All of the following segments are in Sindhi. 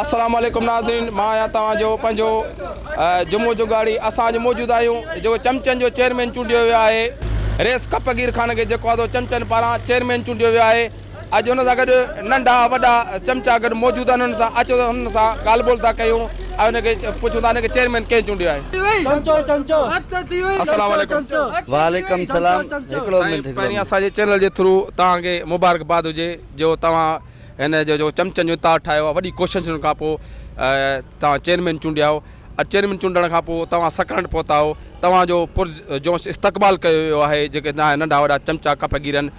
السلام عليڪم ناظرين مان آهيان توهان جو پنهنجو جمعو جوڳاڙي اسان اڄ موجود آهيون جيڪو چمچن جو چيئرمين چونڊيو ويو آهي ريس ڪپ گير خان کي جيڪو آدو چمچن پاران چيئرمين چونڊيو ويو آهي اڄ ان سان گڏ ننڍا وڏا چمچا گڏ موجود آهن انهن سان اچو ته انهن سان ڳالهه ٻولهه ٿا ڪيون ۽ ان کي پڇون ٿا انهن کي چيئرمين ڪنهن چونڊيو آهي السلام عليڪم. وعليڪم السلام هڪڙو منٽ هڪڙو پهرين اسان جي چينل جي ٿرو توهان کي مبارڪ باد هجي جو توهان هن جو جيڪو چمچن جو اتار ٺاهيو آهي وڏي ڪوششن کان پوء توهان چيئرمين چونڊيا آهو ۽ چيئرمين چونڊڻ کان پوء توهان سڪرنڊ پهتا آهو توهان جو پر جوش استقبال ڪيو ويو آهي جيڪي ننڍا وڏا چمچا ڪپ گيرن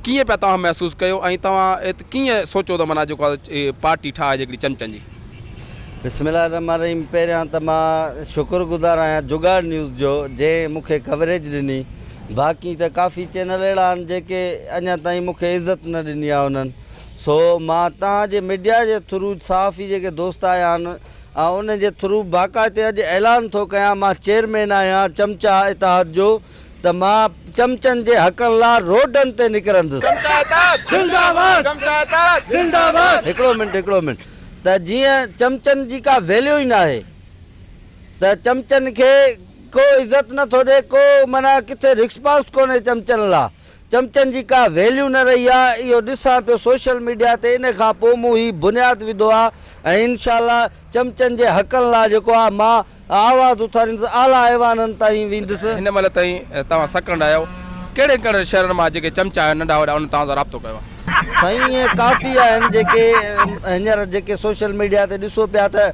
ڪيئن پيا توهان محسوس ڪيو ۽ توهان ات ڪيئن سوچيو ته معنيٰ جيڪو آهي پارٽي ٺاهجي هڪڙي چمچن جي. بسم الله الرحمٰن الرحيم پهريان ته مان شڪر گذار آهيان جگاڙ نيوز جو جنهن مون کي ڪوريج ڏني باقي ته ڪافي چينل اهڙا آهن جيڪي اڃا تائين مون کي عزت نه ڏني آهي انهن سو مان توهان جي ميڊيا جي ٿرو صحافي جيڪي دوست آيا آهن آئون انهن جي ٿرو باقاعتي اڄ اعلان ٿو ڪيان مان چيئرمين آهيان چمچا اتحاد جو ته مان چمچن جي حقن لا روڊن تي نڪرندس. هڪڙو منٽ هڪڙو منٽ ته جيئن چمچن جي ڪا ويليو ئي ناهي ته چمچن کي ڪو عزت نه ٿو ڏي ڪو معنيٰ ڪٿي رڪسپانس ڪونهي چمچن لا چمچن جي ڪا ويليو نه رهي آ اهو ڏسان پيو سوشل ميڊيا تي ان کان پو مون هي بنياد وڌو آ ۽ انشاء الله چمچن جي حقن لا جيڪو آ مان آواز اٿاريندس، اعليٰ ايوانن تائين ويندس. هن مهل تائين توهان سڪنڊ آهيو، ڪهڙن ڪهڙن شهرن مان جيڪي چمچا آهن ننڍا وڏا انهن توهان سان رابطو ڪيو آهي؟ سائين اهي ڪافي آهن جيڪي هينئر جيڪي سوشل ميڊيا تي ڏسو پيا ته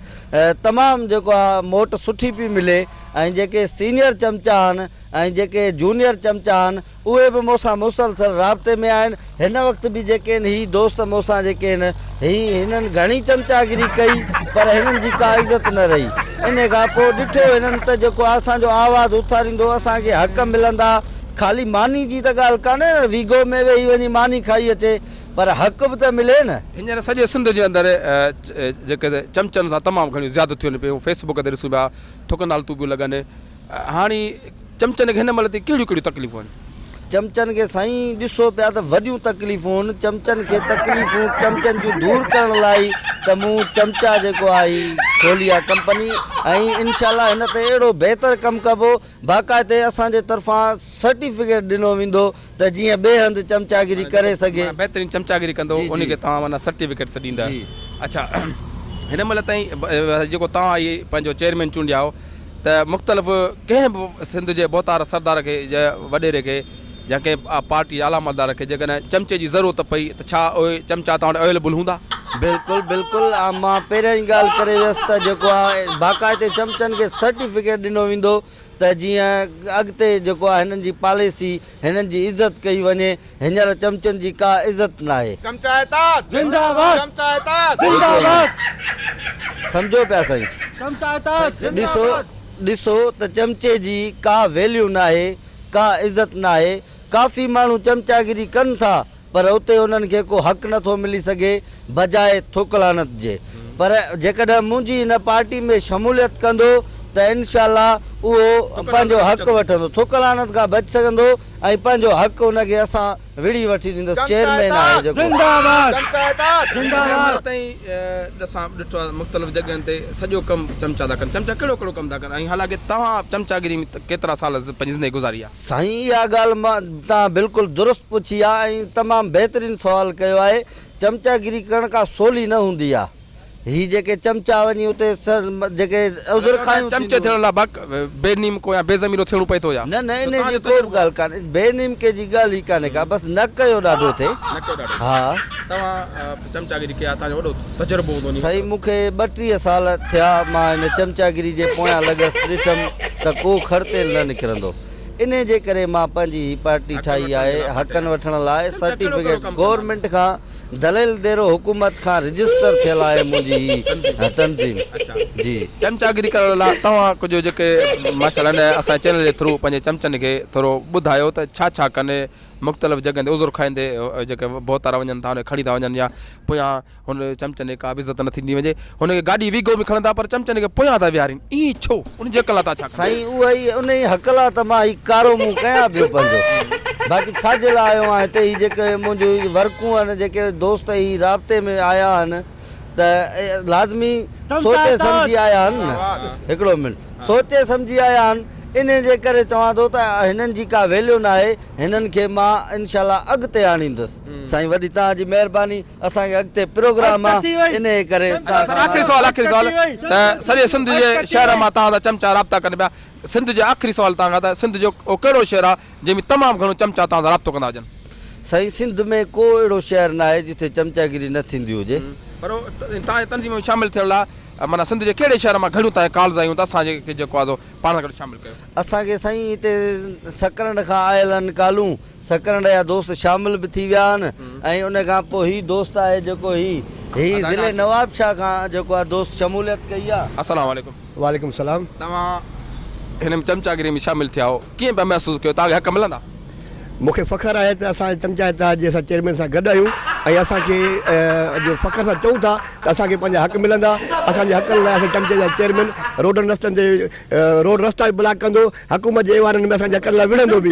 تمام جيڪو آهي موٽ سٺي پئي ملي ۽ جيڪي سينئر چمچا آهن ۽ جيڪي جونيئر چمچا آهن اهي به مون سان مسلسل رابطي ۾ آهن. هن وقت به جيڪين هي دوست مون سان جيڪين هي هنن گهڻي چمچاگري ڪئي پر هنن جي ڪا عزت نه رهي. انهي کان پوء ڏٺو هنن ته جيڪو اسان جو آواز اٿاريندو اسان کي حق ملندا. خالي ماني جي ته ڳالهه ڪانهي نه ويگهو ۾ ويهي وڃي ماني کائي اچي پر حق به ته ملي نه. هينئر سڄي سنڌ جي اندر جيڪي چمچن سان تمام گهڻيون زيادتيون ٿين پيون. فيس بڪ تي ڏسون پيا ٿڪ نالتون پيون لڳن. هاڻي چمچن کي هن مهل تائين ڪهڙيون ڪهڙيون تڪليفون آهن؟ چمچن کي سائين ڏسو پيا ته وڏيون تڪليفون چمچن کي تڪليفون چمچن جون دور ڪرڻ لاء ئي ته مون چمچا جيڪو آهي هي کولي آهي ڪمپني ۽ انشاء الله هن تي اهڙو بهتر ڪم ڪبو باقاعدي اسان جي طرفان سرٽيفڪيٽ ڏنو ويندو ته جيئن ٻئي هنڌ چمچاگيري ڪري سگهي. معنيٰ بهترين چمچاگيري ڪندو جي انهي جي. کي توهان معنيٰ سرٽيفڪيٽس ڏيندا. جي. اڇا هن مهل تائين جيڪو توهان هي پنهنجو چيئرمين چونڊيا هو ته مختلف ڪنهن به سنڌ جي ڀوتار سردار کي جا وڏيري کي يا ڪنهن پارٽي جي اعليٰ مالدار کي جيڪڏهن چمچي جي ضرورت پئي ته ڇا اهي چمچا توهان وٽ اويليبل هوندا؟ بلڪل بلڪل مان پهريان ئي ڳالهه ڪري ويس ته جيڪو آهي باقاعدي چمچن کي سرٽيفڪيٽ ڏنو ويندو. ته جيئن اڳتي جيڪو آهي هنن جي پاليسي هنن جي عزت ڪئي وڃي هينئر چمچن جي ڪا عزت ناهي. چمچائتات زنده باد چمچائتات زنده باد سمجهو پيا سائين چمچائتات زنده باد ڏسو ته چمچي جي ڪا ويليو ناهي ڪا عزت ناهي ڪافي ماڻهو چمچاگري ڪن ٿا پر اتي انهن کي ڪو حق نه ٿو ملي سگهي بجاء ٿڪ لعنت جي پر جيڪڏهن منهنجي هن پارٽي ۾ شموليت ڪندو ته انشاء الله اهو پنهنجو حق وٺندو ٿڪ لعنت کان بچ سگهندو ۽ پنهنجو حق ان کي اسان وڙهي وٺي ڏيندس چيئرمين آهي جيڪو سائين اها ڳالهه مان تان بلڪل درست پڇي آ ۽ تمام بهترين سوال ڪيو آهي چمچا گري ڪرڻ ڪا سولي نه هوندي آ هي جيڪي چمچا وڃي اتي جيڪي عذر خايون چمچي ٿيڻ لا بق بي نيمڪو يا بي ضميرو ٿيڻو پئي ٿو يا. نه نه انهي جي ڪوبه ڳالهه ڪانهي بي نيمڪي جي ڳالهه ئي ڪانهي ڪا بس نڪ جو ڏاڍو ٿئي ها. توهان چمچاگيري کي آ توهان جو وڏو تجربو هوندو نينگر صاحب. سائين مون کي ٻٽيهه سال ٿيا مان هن چمچاگيري جي پويان لڳس ڏٺم ته ڪو کڙ تيل نه نڪرندو انهي جي ڪري مان پنهنجي هي پارٽي ٺاهي آهي حقن وٺڻ لاء سرٽيفڪيٽ گورنمينٽ کان دليل ديرو حڪومت کان رجسٽر ٿيل آهي منهنجي هي تنظيم جي. چمچاگيري ڪرڻ لاء توهان ڪجهه جيڪي ماشاءالله هن اسان جي چينل جي ٿرو پنهنجي چمچن کي ٿورو ٻڌايو ته ڇا ڇا ڪن. مختلف جڳهين تي عذر کائيندي جيڪي ڀوتارا وڃن ٿا ان کي کڻي ٿا وڃن يا پويان هن چمچن کي ڪا به عزت نه ٿيندي وڃي هن کي گاڏي ويگو ۾ کڻن ٿا پر چمچن کي پويان ٿا ويهارين ائين ڇو ان جي حق لا تان ڇا ڪندا. سائين اهو ئي انهي حق لا ته مان هي ڪارو منهن ڪيان پيو پنهنجو باقي ڇا جي لا آيو آهيان هتي هي جيڪي منهنجو ورڪون آهن جيڪي دوست هي رابطي ۾ آيا آهن ته لازمي سوچي سمجهي آيا آهن نه هڪڙو منٽ سوچي سمجهي آيا آهن انهي جي ڪري چوان ٿو ته هنن جي ڪا ويليو ناهي هنن کي مان انشاءالله اڳتي آڻيندس سائين وڏي توهان جي مهرباني اسان کي اڳتي پروگرام آ انهي ڪري توهان سان آخري سوال آخري سوال ته سڄي سنڌ جي شهر مان توهان سان چمچا رابطا ڪن پيا سنڌ جي آخري سوال توهان کان ته سنڌ جو اهو ڪهڙو شهر آهي جنهن ۾ تمام گهڻو چمچا توهان سان رابطو ڪندا هجن. سائين سنڌ ۾ ڪو اهڙو شهر ناهي جتي چمچاگيري نه ٿيندي هجي. پر توهان جي تنظيم ۾ شامل ٿيڻ لاء معنيٰ سنڌ جي ڪهڙي شهر مان گهڻيون توهان کي ڪالز آيون ته اسان کي جيڪو آزو پاڻ سان گڏ شامل ڪيو. اسان کي سائين هتي سڪرنڊ کان آيل آهن ڪالون سڪرنڊ جا دوست شامل به ٿي ويا آهن ۽ ان کان پوء هي دوست آهي جيڪو هي هي ضلعي نوابشاهه کان جيڪو آهي دوست شموليت ڪئي آهي. السلام عليڪم. وعليڪم السلام. توهان هن ۾ چمچا گيري ۾ شامل ٿيا آهو ڪيئن پيا محسوس ڪيو توهان کي حق ملندا؟ مون کي فخر آهي ته اسان چمچا اتحاد جي اسان چيئرمين سان گڏ آهيون ۽ اسان کي اڄ فخر سان چئون ٿا ته اسان کي پنهنجا حق ملندا اسان جي حقن لاء اسان چمچي جا چيئرمين روڊن رستن تي روڊ رستا به بلاڪ ڪندو حڪومت جي ايوانن ۾ اسان جي حقن لاء وڙهندو به.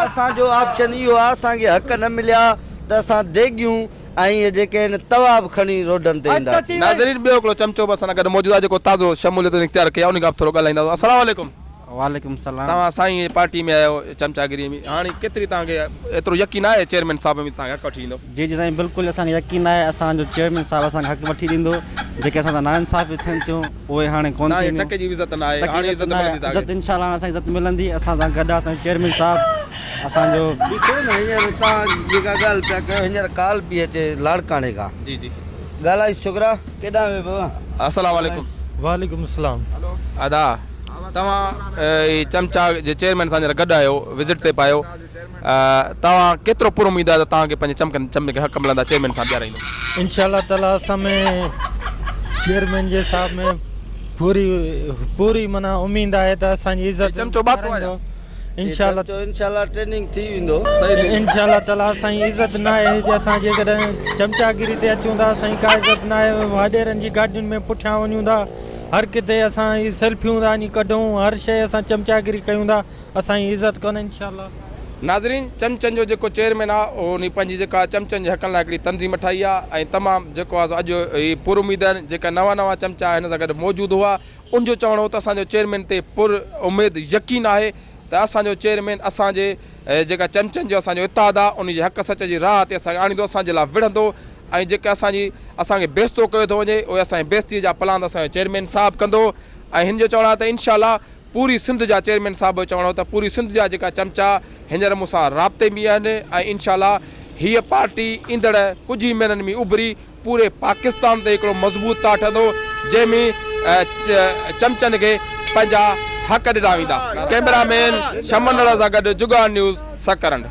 اسان جو آپشن اهو آ اسان کي حق نه مليا ته اسان ديڳيون ۽ اهي جيڪي آهن توا به کڻي روڊن تي اينداسين. ناظرين ٻيو هڪڙو چمچو به اسان سان گڏ موجود آ جيڪو تازو شموليتون اختيار ڪئي آ انهي کان به ٿورو ڳالهائينداسون السلام عليڪم. وعليڪم السلام. توهان سائين جي پارٽي ۾ آهيو چمچاگري ۾ هاڻي ڪيتري توهان کي ايترو يقين آهي چيئرمين صاحب ۾ توهان کي حق وٺي ڏيندو. جي جي سائين بلڪل اسان کي يقين آهي اسان جو چيئرمين صاحب اسان کي حق وٺي ڏيندو جيڪي اسان سان ناانصافيون ٿين ٿيون اهي هاڻي ڪون ٿينديون توهان کي ٽڪي جي به عزت ناهي ٽڪي جي عزت ناهي عزت ان شاء الله هاڻي اسان کي عزت ملندي اسان سان گڏ آهي اسان جو چيئرمين صاحب اسان جو. ڏسو نه هينئر توهان جيڪا ڳالهه پيا ڪيو هينئر ڪال پئي اچي لاڙڪاڻي کان جي جي ڳالهائيس ڇوڪرا ڪيڏانهن ويو بابا. اسلام عليڪم. وعليڪم السلام. ادا. توهان هي چمچا جي چيئرمين سان هينئر گڏ آهيو وزٽ تي به آهيو توهان ڪيترو پر اميد آهي ته توهان کي پنهنجي چمڪن چمچن کي حق ملندا چيئرمين سان بيهارائيندو. انشاء الله تعالي اسان ۾ چيئرمين جي صاحب ۾ پوري پوري معنيٰ اميد آهي ته اسان جي عزت ڪرندو انشاء الله تعالي انشاء الله ٽريننگ ٿي ويندو انشاء الله تعالي اسان جي عزت ناهي جي اسان جيڪڏهن چمچاگيري تي اچون ٿا اسان جي ڪا عزت ناهي واڏيرن جي گاڏين ۾ پٺيان وڃون ٿا هر ڪٿي اسان هي سيلفيون ٿا وڃي ڪڍون هر شئي اسان چمچاگري ڪيون ٿا اسان جي عزت ڪونه انشاء الله. ناظرين چمچن جو جيڪو چيئرمين آ اهو انهي پنهنجي جيڪا چمچن جي حقن لاء هڪڙي تنظيم ٺاهي آ ۽ تمام جيڪو آ سو اڄ هي پر اميد آهن جيڪا نوان نوان چمچا هن سان گڏ موجود هئا ان جو چوڻ هو ته اسان جو چيئرمين تي پر اميد يقين آهي ته اسان جو چيئرمين اسان جي اهي جيڪا چمچن جو اسان جو اتحاد آ ان جي حق سچ جي راهه تي اسان کي آڻيندو اسان جي لا وڙهندو ۽ جيڪي اسان جي اسان کي بيستو ڪيو ٿو وڃي اهي اسان جي بيستي جا پلاند اسان جو چيئرمين صاحب ڪندو ۽ هن جو چوڻ آ ته انشاء الله پوري سنڌ جا چيئرمين صاحب جو چوڻ هو ته پوري سنڌ جا جيڪا چمچا هينئر مون سان رابطي م آهن ۽ انشاء الله هيء پارٽي ايندڙ ڪجهه ئي مهينن م اڀري پوري پاڪستان تي هڪڙو مضبوط تاٺ هندو جنهن ۾ چمچن کي پنهنجا حق ڏنا ويندا، ڪئميرا مين شمن رحه سان گڏ جگان نيوز سڪرنڊ.